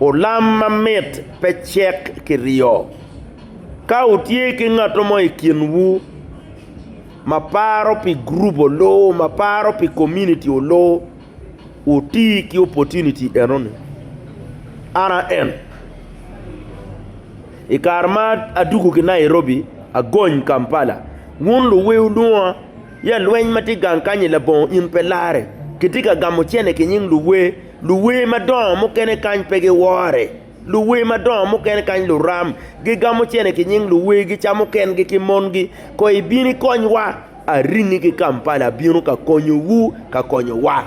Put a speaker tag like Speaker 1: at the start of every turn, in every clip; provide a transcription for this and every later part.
Speaker 1: Olam mamit pe cek ki ryo. Ka wutye ki ngat mo i kinwu ma paro pi gurup olo, ma paro pi komuniti olo, wuti ki opportunity enoni. An a en, i kare ma adwogo ki Nairobi, agony Kampala, wun luwe wulwonga ya lweny ma tye gang kany-ni labongo in pe larre. Kitye ka gamo cente ki nying luwe. Luwer madongo mukene kany pe giwore. Luwer madongo mukene kany luram, gigamo cene ki nying luwer, gicamo kengi ki mongi. Kono ibino ikonywa? Aringi ki Kampala abino ka konyowu, ka konyowa.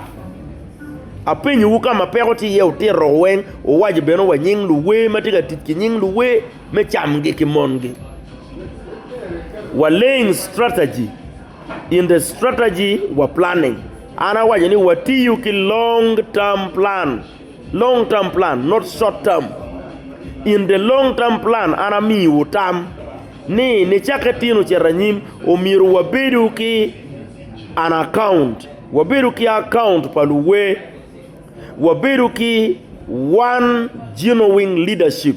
Speaker 1: Apenyowu ka ma peko tye iye wutito weng, wuwaco bene wa nying luwer ma tye ka tic ki nying luwer me camgi ki mongi. Wa laying strategy in the strategy wa planning. An awaco ni watiyo ki long term plan, long term plan not short term. In the long term plan an amiyiwu tam ni nicakke tino cito anyim omyero wabedo ki an account, wabedo ki account pa luwer, wabedo ki one genuine leadership.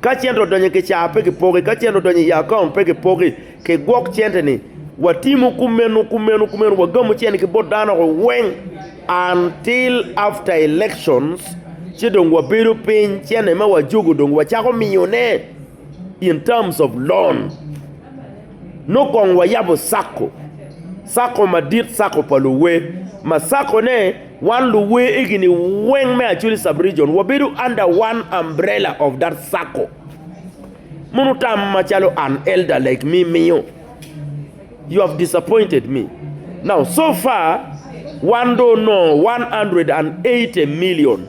Speaker 1: Ka cente odonyo i kicaa pe kipoki, ka cente odonyo i akaont pe kipoki, kigwok cente-ni watimo kumeno kumeno kumeno wagamo cente ki bot dano weng until after elections ci dong wabedo piny cente ma wajogo dong wacako miyone in terms of loan. Nongo kong wayabo Cako, Cako madit, Cako pa luwer, ma Cako ne wan luwer egini weng me Acholi Sub Region wabedo under one umbrella of that Cako. Mono tam macalo an elder like me miyo, you have disappointed me. Now so far wan dong onongo 180 million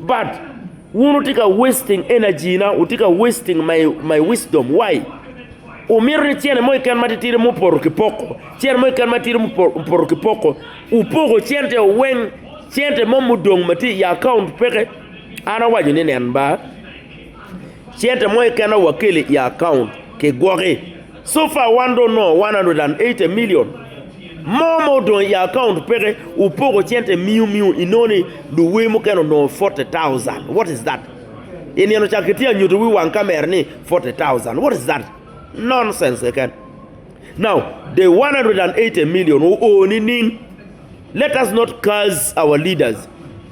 Speaker 1: But wun wutye ka wasting energy na, wutye ka wasting my, my wisdom. Why? Wumito ni cene mo keken matitidi mupoto ki poko, cene mo keken matidi mupo- mupoto ki poko, wupoko cente weng, cente mo mudong ma tye i account peke. An awaco ni nen ba, cente mo keken aye wakeli i account kigwoki. So far wan dong onongo 180 million mo ma odong i account peke opoko cente miu miu inongo ni luwer mukene onongo 40,000 what is that I nino ca kitye anyutu wi wang camera ni 40,000 what is that nonsense keken now the 180 million oo nining let us not curse our leaders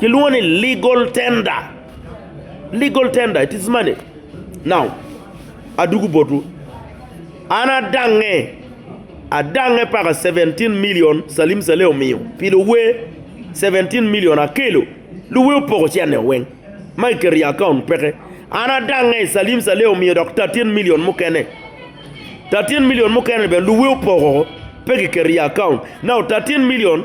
Speaker 1: Kilwongo ni legal tender. Legal tender, it is money. Now, adugu botwu. An adange, adange paka 17 million Salim Saleh omiyo pi luwe 17 million akelo. Luwe opoko cene o weng ma kiketo i account peke. An adange Salim Saleh omiyo dok 13 million mukene. 13 million mukene bene luwe opoko pe kiketo i account. Now 13 million